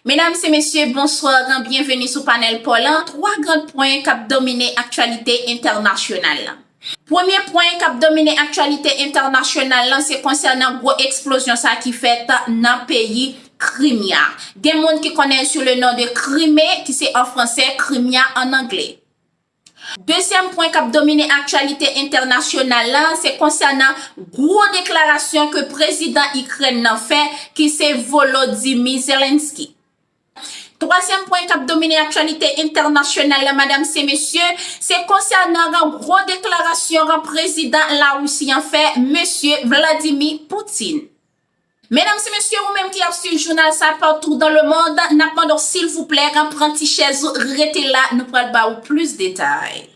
Medam se mesye, bonsoir an byenveni sou panèl paw lan, 3 grand pwen kap domine aktyalite entènasyonal lan. Premye pwen kap domine aktyalite entènasyonal lan se konsènan gwo eksplozyon sa ki fèt nan peyi Krimya. Gen moun ki konnenl sou le non de Krime ki se an fransè, Krimya an angle. Dezyèm pwen k ap domine aktyalite entènasyonal la, se konsènan gwo deklarasyon ke prezidan Ikrèn nan fè ki se Volodymyr Zelensky. Twazyèm pwen k ap domine aktyalite entènasyonal la madam se mesye, se konsènan ran gwo deklarasyon ran prezidan Larisi an fè, mesye Vladimir Poutine. Medam si mesye ou menm ki ap swiv jounal sa partout dans le monde nap mande w silvouplè pran ti chèz ou rete la nou pral ba ou plis detay.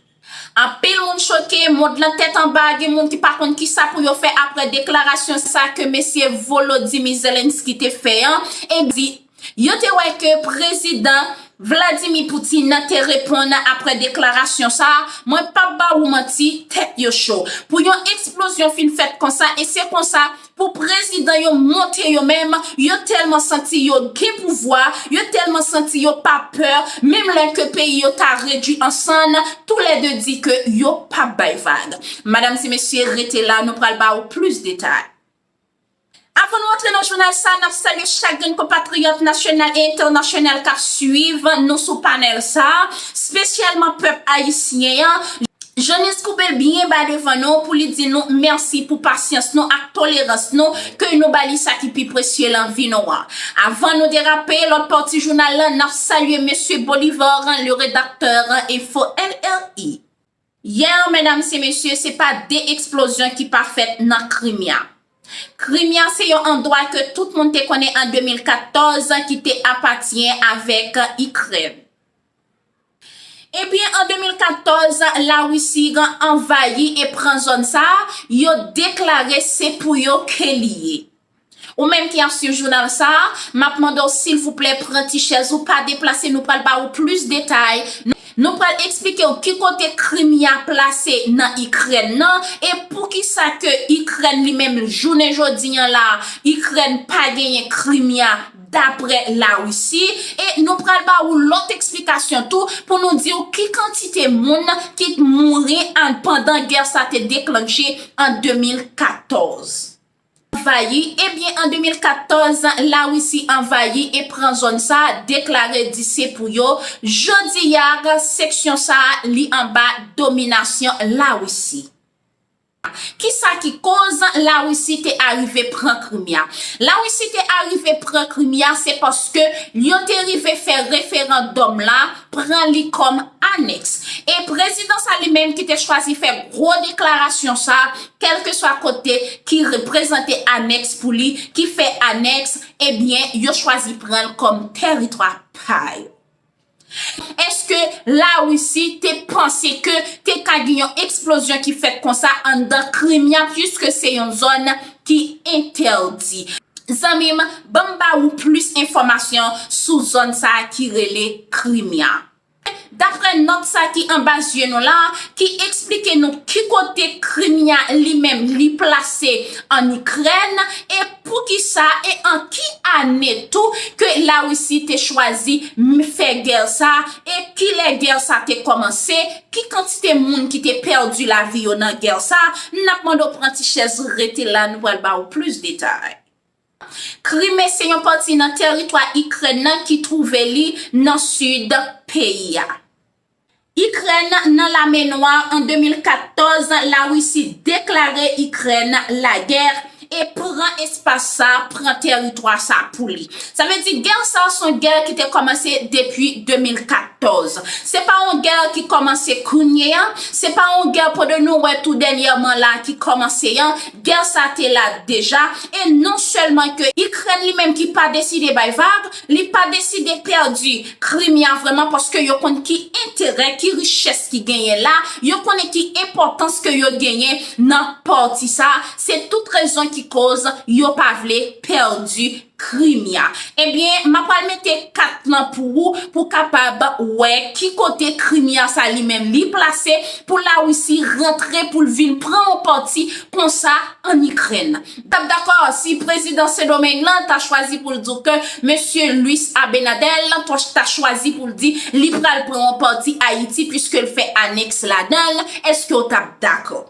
Anpil moun choke, mond lan tèt anba gen moun ki pa konn kisa pou yo fè aprè deklarasyon sa ke mesye Volodymyr Zelensky te fè an, ebyen. Yo te wè ke Prezidan Vladimir Putin nan te reponn apre deklarasyon sa a, mwen pap ba ou manti, tèt yo cho. Pou yon eksplozyon fin fèt konsa e se konsa pou prezidan yo monte yo menm, yo tèlman santi yo gen pouvwa, yo tèlman santi yo pa pè, menm lè ke peyi yo ta redui an sann, tou lè 2 di ke yo pap bay vag. Madam e mesye rete la nou pral ba ou plis detay. Avan nou antre nan jounal sa a, n ap salye chak grenn konpatriyòt nasyonal e entènasyonal k ap suiv nou sou panèl sa a, spesyalman pèp ayisyen an. Janice Koube byen ba devan nou pou li di nou mèsi pou pasyans nou ak tolerans nou ke nou ba li sa ki pi presye lan vi nou an. Avan nou derape lòt pati jounal lan, n ap salye Mesye Bolivar, le redakteur, Info LRI. Yè, medam se mesye, se pa de eksplozyon ki pa fèt nan Krimea. Krimea se yon andwa ke tout moun te konnen an 2014 ki te apatyen avèk Ikrèn. Ebyen, an 2014, Larisi gen anvayi e pran zòn sa a, yo deklare se pou yo ke li ye. Ou menm ki ap swiv jounal sa a, m ap mande w silvouplè pran ti chèz ou, pa deplase nou pral ba ou plis detay, nou pral eksplike w ki kote Krimea plase nan Ikrèn nan e poukisa ke Ikrèn li menm jounen jodi an la a, Ikrèn pa genyen Krimea daprè Larisi e nou pral ba ou lòt eksplikasyon tou pou nou di w ki kantite moun ki t mouri an pandan gè sa te deklanche an 2014. Anvayi, ebyen an 2014 Larisi anvayi e pran zòn sa a, deklare di se pou yo, jodi a seksyon sa a li anba dominasyon Larisi. Kisa ki koz Larisi te arive pran Krimi a? Larisi te arive pran Krimi a se paske yo te rive fè referandòm la, pran li kòm anèks. E prezidan sa li menm ki te chwazi fè gwo deklarasyon sa a, kèlkeswa kote ki reprezante anèks pou li, ki fè anèks, ebyen yo chwazi pran l kòm tèritwa pa yo. Èske Larisi te panse ke te ka gen yon eksplozyon ki fèt konsa anndan Krimea puiske se yon zòn ki entèdi? Zanmi m, ban m ba ou plis enfòmasyon sou zòn sa a ki rele Krimea. Daprè nòt sa ki anba zye nou la, ki eksplike nou ki kote Krimea li menm li plase an Ikrèn, e poukisa e an ki ane tou ke Larisi te chwazi fè gè sa, e kilè gè sa te kòmanse, ki kantite moun ki te pèdi lavi yo nan gè sa, n ap mande w pran ti chèz rete la nou pral ba ou plis detay. Krime se yon pati nan teritwa Ikrèn nan ki twouve li nan sid peyi a. Ikrèn nan lame nwa an 2014, Larisi deklare Ikrèn lagè e pran espas sa, pran teritwa sa pou li. Sa vle di gè sa son gè ki te kòmanse depi 2014. Se pa yon gè ki kòmanse kounye a, se pa yon gè po de nou wè tou dènyèman la ki kòmanse an, Gè sa te la deja, e non sèlman ke Ikrèn li menm ki pa deside bay vag, li pa deside pèdi Krimea vrèman paske yo konn ki enterè, ki richès ki genyen la, yo konnen ki enpòtans ke yo genyen nan pati sa, se tout rezon ki koz yo pa vle pèdi Krimya. Ebyen ma pral mete kat lan pou ou pou kapab wè ki kote Krimya sa li menm li plase pou la Russie rantre poul vin pran yon pati konsa an Ikrèn. M tap dakò si prezidan Sendomeng lan ta chwazi poul di w ke mesye Luis Abenadel poch ta chwazi poul di li pral pran yon pati Ayiti pwiske l fè anèks ladan l, eske w tap dakò?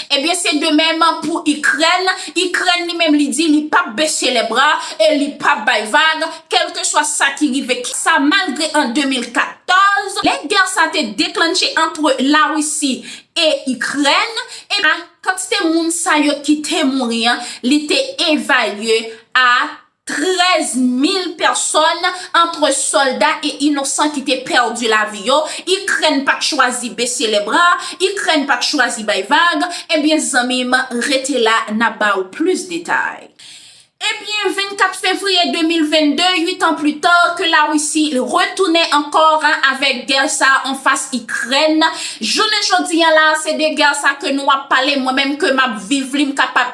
Ebyen se de menm pou Ikrèn, Ikrèn li menm li di li pap bese lè bra e li pap bay vag kelke swa sa ki rive ki sa malgre an 2014 lè gè sa te deklannche antre la Risi e Ikrèn e kantite moun sa yo ki te mouri an li te evalye a 13 mil pèsòn, antre sòlda e inosan ki te pèdi lavi yo, Ikrèn pa t chwazi bese lèbra, Ikrèn pa t chwazi bay vag, ebyen zanmi m rete la n ap ba ou plis detay. Ebyen 24 fevriye 2022, 8 an pli ta, ke Larisi retounen ankò avèk gè sa anfas Ikrèn, jounen jodi an la se de gè sa ke nou ap pale mwen menm ke m ap viv li m kapab.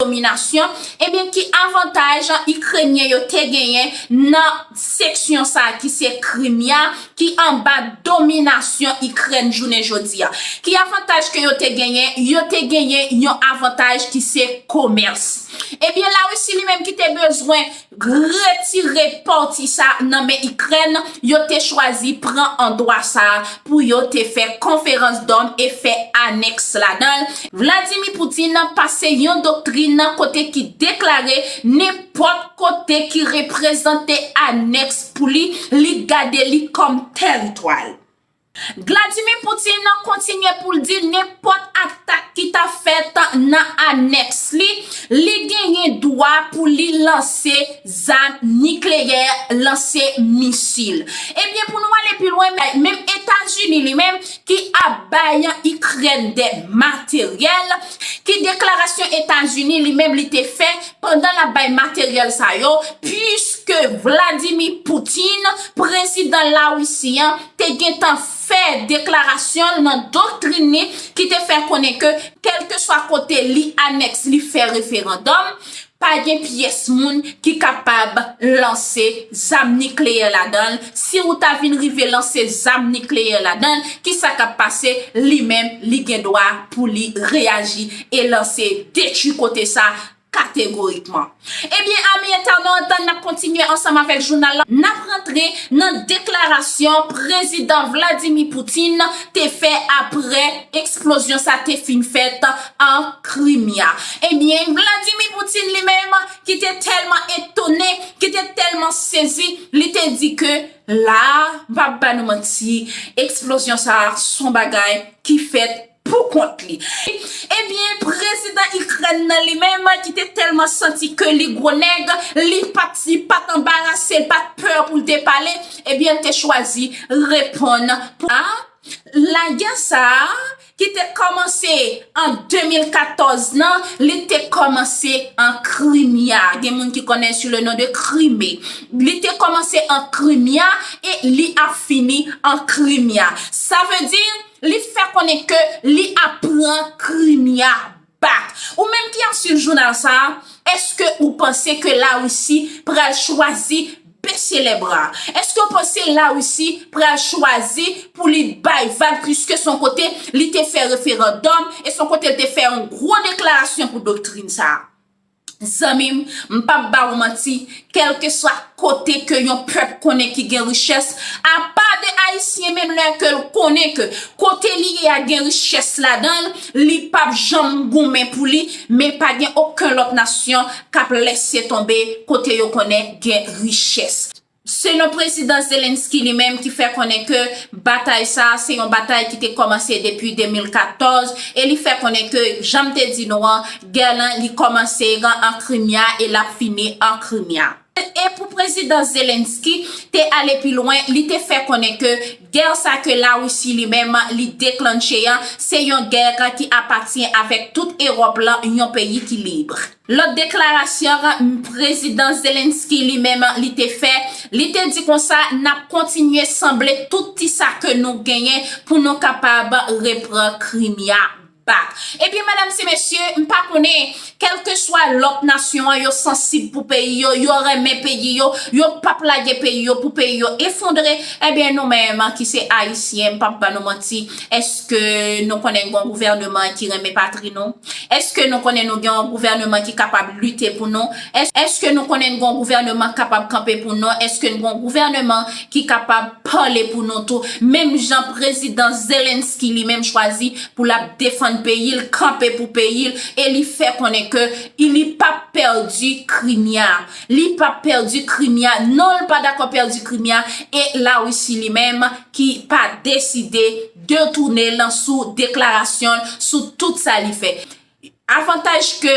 dominasyon, ebyen ki avantaj Ikrenyen yo te genyen nan seksyon sa ki se Krimea ki anba dominasyon Ikrèn jounen jodi a? Ki avantaj ke yo te genyen? Yo te genyen yon avantaj ki se komès. Ebyen Larisi li menm ki te bezwen Retire pati sa nan men Ikrèn, yo te chwazi pran andwa sa pou yo te fè konferans dòm e fè anèks ladan l. Vladimir Putin pase yon doktrin kote ki deklare nenpòt kote ki reprezante anèks pou li, li gade li kòm tèritwa l. Gladimir Putin kontinye pou l di nenpòt atak ki ta fèt nan anèks li, li genyen dwa pou li lanse zam nikleyè, lanse misil. Ebyen pou nou ale pi lwen menm Etazini li menm ki ap bay Ikrèn dè materyèl, ki deklarasyon Etazini li menm li te fè pandan l ap bay materyèl sa yo, puiske Vladimir Putin, prezidan Larisi an, te gentan fè deklarasyon l nan doktrin li ki te fè konnen ke kèlkeswa kote li anèks li fè referandòm, pa gen pyès moun ki kapab lanse zam nikleyè ladan l, si ou ta vin rive lanse zam nikleyè ladan l, kisa k ap pase, li menm li gen dwa pou li reyaji e lanse detui kote sa Kategorikman. Ebyen ami entènòt, n ap kontinye ansanm avèk jounal la. N ap rantre nan deklarasyon Prezidan Vladimir Poutine te fè aprè eksplozyon sa te fin fèt an Krimya. Ebyen Vladimir Poutine li menm ki te tèlman etone, ki te tèlman sezi, li te di ke la a, m pa p ba nou manti, eksplozyon sa a s on bagay ki fèt. pou kont li. Ebyen prezidan ikrèn nan li menm ki te tèlman santi ke li gwo nèg, li pat li pat anbarase, li pat pè pou l te pale, ebyen l te chwazi reponn pou a lagè sa a ki te kòmanse an 2014 nan, li te kòmanse an krimya, gen moun ki konnen sou le non de krime, li te kòmanse an krimya e li ap fini an krimya. Sa vle di. Li fè konnen ke li ap pran Krimea back. Ou menm ki ap swiv jounal sa a, eske ou panse ke la Risi pral chwazi bese lè bra? Eske ou panse la Risi pral chwazi pou li bay vag pwiske son kote li te fè referandòm e son kote li te fè yon gwo deklarasyon pou doktrin sa a? Zanmim, m pap ba ou manti, kelkeswa kote ke yon pèp konnen ki gen richès, apa de Ayisyen menm lè ke l konnen ke kote li ye a gen richès ladan l, li pap janm goumen pou li, men pa gen oken lòt nasyon k ap lèse tonbe kote yo konnen gen richès. Selon Prezidan Zelenskyy li menm ki fè konnen ke batay sa a se yon batay ki te kòmanse depi 2014 e li fè konnen ke janm te di nou an gè lan li kòmanse an Krimea e lap fini an Krimea. E pou Prezidan Zelenskyy te ale pi lwen li te fè konnen ke gè sa ke la Russie li menm li deklannche an se yon gè ki apatyen avèk tout Ewòp lan yon peyi ki libre. Lòt deklarasyon Prezidan Zelenskyy li menm li te fè, li te di konsa nap kontinye sanble tout ti sa ke nou genyen pou nou kapab repran Krimea back. Ebyen medam se mesye, m pa konnen kelkeswa lòt nasyon an yo sansib pou peyi yo, yo renmen peyi yo, yo pap lage peyi yo pou peyi yo efondre, ebyen nou menm ki se ayisyen m pap ban nou manti, Eske nou konnen gen yon gouvèneman ki renmen patri nou? Eske nou konnen nou gen yon gouvèneman ki kapab lite pou nou? Eske nou konnen gen yon gouvèneman ki kapab kanpe pou nou? Eske gen yon gouvèneman ki kapab pale pou nou tou? Menm jan prezidan Zelensky li menm chwazi pou l ap defann peyi l, kanpe pou peyi l e li fè konnen ke li p ap pèdi Krimea. Li pap pèdi krimea non l pa dakò pèdi krimea e la Russie li menm ki pa deside de tounen l sou deklarasyon l sou tout sa li fè. Avantaj ke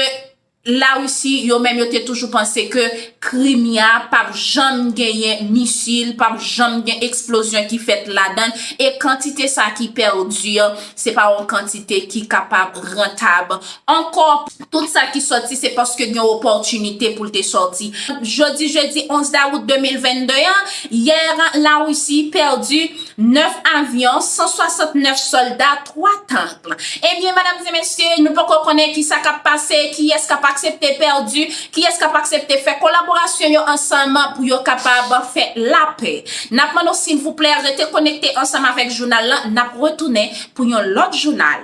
la Russie yo menm yo te toujou panse ke krimea pap janm genyen misil pap janm gen eksplozyon ki fèt ladan l e kantite sa ki pèdi se pa yon kantite ki kapab rantab ankò. Tout sa ki sòti se paske gen opòtinite pou l te sòti. Jodi jedi 11 dawout 2022 an, yè Larisi pèdi 9 avyon, 169 sòlda, 3 tank. Ebyen medam e mesye, nou poko konnen ki sa k ap pase, kiyès k ap aksepte pèdi, kiyès k ap aksepte fè kolaborasyon yo ansanm pou yo kapab fè lapè. N ap mande w silvouplè rete konekte ansanm avèk jounal lan, n ap retounen pou yon lòt jounal.